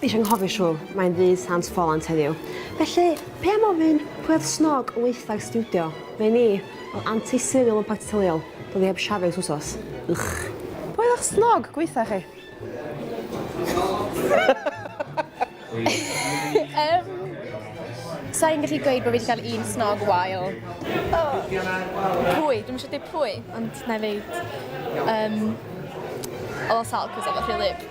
Neis anghofio siwl, mae'n ddydd Sant Ffolant heddiw. Felly, pe am ofyn pwy oedd snog o weithag stiwdio? Fe ni, fel anti serial yn parti teuluol, doedd hi heb siafio ers wsos. Ych. Pwy oedd eich snog gweitha chi? um, Sa'n gallu gweud bod fi wedi cael un snog wael. Oh. Pwy? Dwi'n eisiau dweud pwy, ond na i ddeud. Um, o sal, cos efo rhywlyb.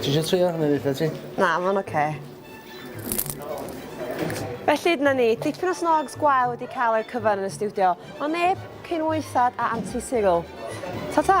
Ti isio trio hwnna weitha ti? Na, ma'n oce. Felly dyna ni, dipyn o snogs gwael wedi cael eu cyfan yn y stiwdio, ond neb cyn waethad a Anti Cyril. Ta ta!